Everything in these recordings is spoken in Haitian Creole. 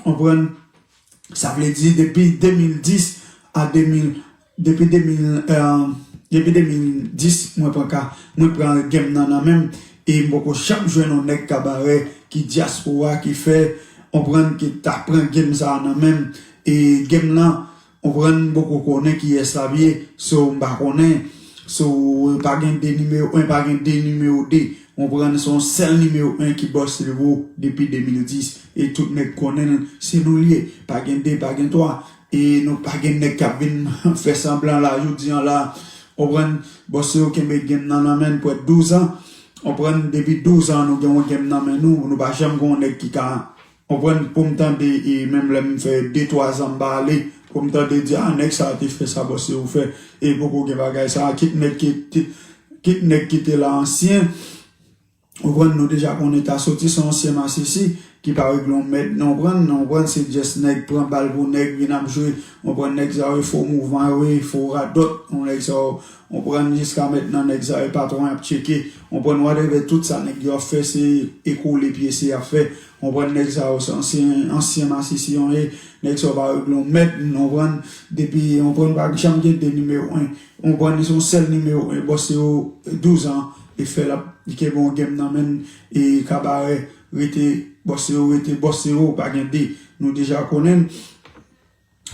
Konprann? Sa vle di depi 2010 a 2000, depi 2000, depi 2010 mwen pran ka, mwen pran game nan nan menm e m poko janm jwenn yon nèg kabarè ki dyaspora ki fè, konprann, ki ta pran game sa nan menm e game lan Konprann m poko konnen kiyès lap ye so m pa konnen so pa gen 2 nimewo 1 pa gen 2 nimewo 2 konprann se yon sèl nimewo 1 ki bòs li wo depi 2010 e tout nèg konnen l se nou l ye pa gen 2 pa gen 3 e nou pa gen nèg kap vin fè sanblan la jodi an la konprann bòs yo kenbe game nan nan men pwè 12 ans konprann depi 12 ans nou gen yon game nan men nou nou pa janm gen yon nèg ki ka Konprann poum tande e menm lèm fè de twa zan mpa ale poum tande di ah nèg sa te fè sa bon se ou fè e poko gen bagay sa kit nèg ki kit nèg ki te la ansyen ou konprann nou deja konnen ta soti son ansyen masisi ki pa regle yon mèd nan ou konprann nan ou konprann se just nèg pran bal pou nèg vin ap jwe ou konprann nèg sa yo e fo mouvman yo e fo radòt ou nèg sa yo. Konprann jiska mentnan nèg sa yo patron yap tcheke konprann whatever tout sa nèg yo ap fè se e kole pyese yap fè konprann nèg sa yo se ansyen ansyen masisi yon e nèg sa yo pa regle yon mèd konprann depi konprann pa janm gen 2 nimewo 1 konprann li se yon sèl nimewo 1 bòs se yo 12 an li fè lap li kenbe yon game nan menn e kabarè rete bòs se yo rete bòs se yo pa gen 2 nou deja konnen.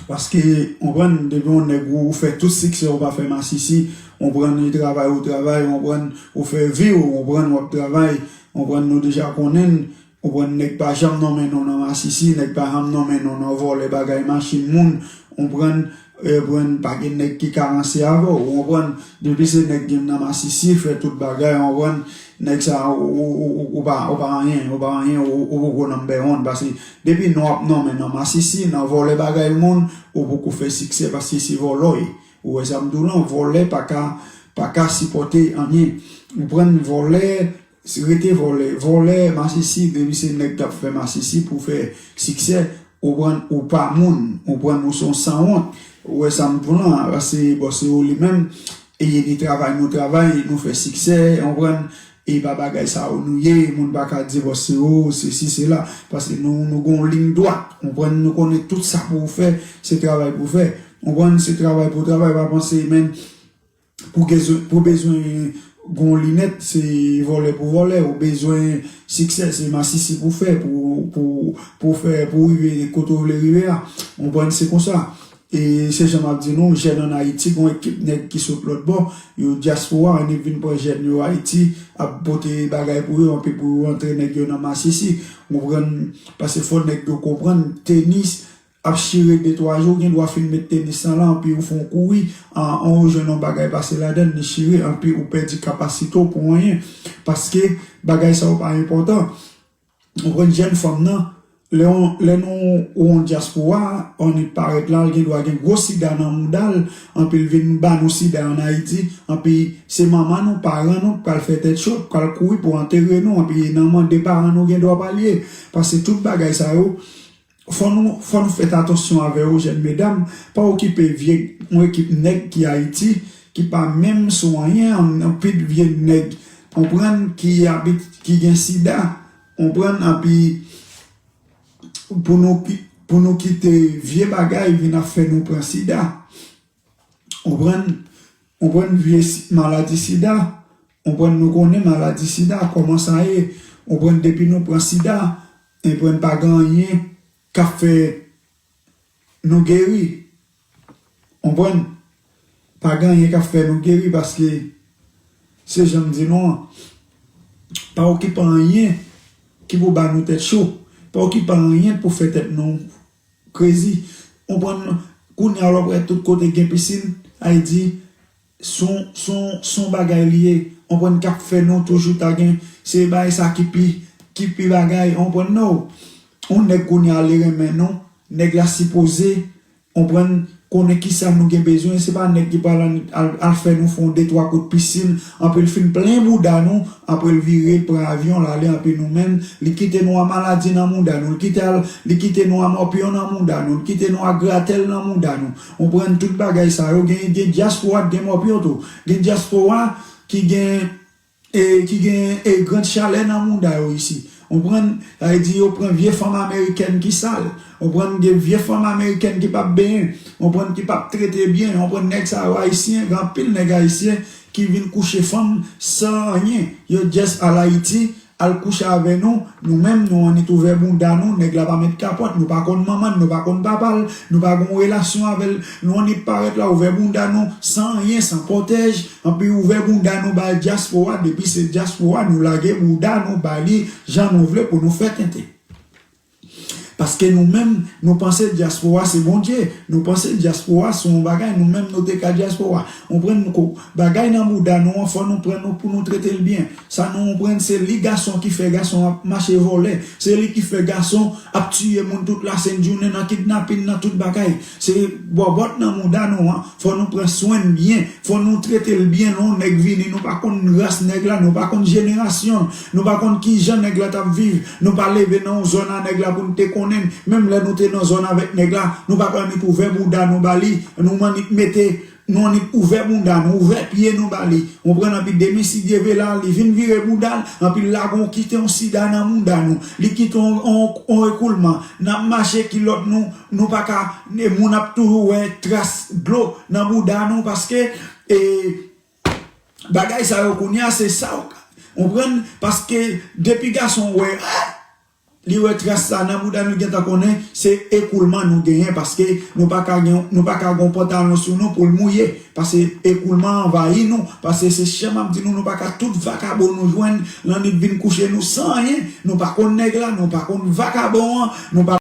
Paske ou konprann depi yon nèg ou fè tout siksè ou pa fè masisi ou konprann li travay ou travay ou konprann ou fè viw ou konprann wap travay ou konprann nou deja konnenn ou konprann nèg pa janm nonmen nou nan masisi nèg pa janm nonmen nou nan vòlè bagay machin moun ou konprann ou konprann pa gen nèg ki ka ranse avèw ou konprann depi se nèg gen nan masisi fè tout bagay ou konprann nèg sa ou pa anyen ou pa anyen ou poko nanmbè 1 paske Depi non ap nonmen nan masisi nan vòlè bagay moun ou poko fè siksè paske se vòlòy ou wè sa m di w lan vòlè paka paka sipòte anyen ou prann vòlè rete vòlè vòlè masisi depi se nèg kap fè masisi pou fè siksè ou prann ou pa moun ou prann ou son sanwont ou wè sa m di w lan se bon se ou li menm e ni travay nou travay nou fè siksè ou prann. Epa bagay sa yo nou ye moun paka divòse o sesi sela paske nou nou gen yon ligne dwat ou konprann nou konnen tout sa pou ou fè se travay pou fè ou konprann se travay pou travay pa panse menn pou gen pou bezwen gen yon linèt se vòlè pou vòlè ou bezwen siksè se masisi pou fè pou pou pou fè pou rive kote ou vle rive a ou konprann se konsa E se jan map di nou jèn an ayiti gon ekip nèg ki sot lòt bò yo diaspora an nip vin pran jèn yo ayiti ap pote bagay pou yo anpi pou rantre nèg yo nan masisi ou konprann pase fò nèg yo konprann tenis ap chire de twa jou ou gen dwa fin met tenis lan la anpi ou fon kouri an ou jwenn yon bagay pase ladann li chire anpi ou pèdi kapasite w pou anyen paske bagay sa yo pa enpòtan. Ou konprann jèn fanm nan, lè nou ou yon dyaspora, an li parèt la, li gen dwa gen gwo sida nan mouda l, anpi l vin ba nou sida an Ayiti, anpi se manman nou, paran nou k pral fè tèt cho, k pral kouri pou antere nou, anpi e nan mande paran nou gen dwa pa l ye. Paske tout bagay sa yo. Fò nou fò nou fèt atansyon avè yo jèn medam pa okipe vye yon ekip nèg ki ayiti ki pa menm sou anyen yon pit vye nèg onprann ki abit ki gen sida onprann anpi pou nou pou nou kite vye bagay vin ap fè nou pran sida. Konprann? Konprann vye maladi sida? Konprann nou konnen maladi sida kòman sa ye? Konprann depi nou pran sida, enprann pa gen anyen k ap fè nou geri? Konprann? Pa gen anyen k ap fè nou geri paske se jan m di nou an, pa okipe anyen ki pou ba nou tèt cho, pa okipe anyen pou fè tèt nou. Krezi konprann kounya wap wè tout kote gen piscine ay di son son son bagay li ye konprann kap fè nou toujou ta gen se bay sa ki pi ki pi bagay konprann no yon nèg kounya li renmen nou nèg la sipoze konprann Konnen kisa nou gen bezwen, se pa nèg ki pral al fè nou fon de twa kout pisin, anpi l fin plen bouda nou, apre l vire l pran avyon l ale anpi nou menm li kite nou a maladi nan mouda nou, l kite al li kite nou a mòpyon nan mouda nou, l kite nou a gratèl nan mouda nou, konprann tout bagay sa yo gen gen dyaspora k gen mòpyon tou, gen dyaspora ki gen. E ki gen e grand chalè nan mouda yo isi. Onprann? Sa vle di yo pran vye fanm amerikèn ki sal. Onprann? Gen vye fanm amerikèn ki pap benyen. Onprann? Ki pap trete byen. Onprann? Nèg sa yo ayisyen. Gen anpil nèg ayisyen ki vin kouche fanm san anyen. Yo just al Ayiti, al kouche avè nou. Nou menm nou annik ouvè bounda nou. Nèg la pa met kapòt. Nou pa konn manman l, nou pa konn papa l. Nou pa gon relasyon avè l. Nou annik parèt la ouvè bounda nou san anyen, san pwotèj. Anpi ouvè bounda nou bay dyaspora depi se dyaspora nou lage bouda nou bali jan nou vle pou nou fè tenten. Paske nou menm nou panse dyaspora se Bondye, nou panse dyaspora se yon bagay nou menm nou te ka dyaspora. Onprann kou bagay nan bouda nou an fò nou pran nou pou nou trete l byen. Sa nou onprann se li gason ki fè gason ap mache vòlè, se li ki fè gason ap tiye moun tout lasent jounen nan kidnapin nan tout bagay. Se bòbòt nan mouda nou an Fò nou pran swenn byen, fò nou tretel byen lè yon nèg vini nou pa konn ras nèg la, nou pa konn jenerasyonl, nou pa konn kijan nèg la tap viv, nou pa leve nan yon zòn a nèg la poun te konnenn, menm lè nou te nan zòn avèk nèg la, nou paka annik ouvè bouda nou bali, nou mannik mete, nou annik ouvè bounda nou, ouvè pye nou bali, konprann anpi demen sidye ve la li vin vire boudal, anpi lague yon kite yon sida nan mouda nou, li kite yon ekoulman, nap mache kilòt nou. Nou pa ka moun ap toujou wè tras dlo nan bouda nou paske e bagay sa yo kounya se sa ou konprann paske depi gason wè li wè tras sa nan bouda nou gentan konnen se ekoulman nou genyen paske nou pa ka gen nou pa ka gon pantalon sou nou poul mouye pase ekoulman anvayi nou pase se chèm ap di nou nou pa ka tout vakabon nou jwenn lannwit vin kouche nou san anyen nou pa konn nèg la nou pa konn vakabon an nou pa.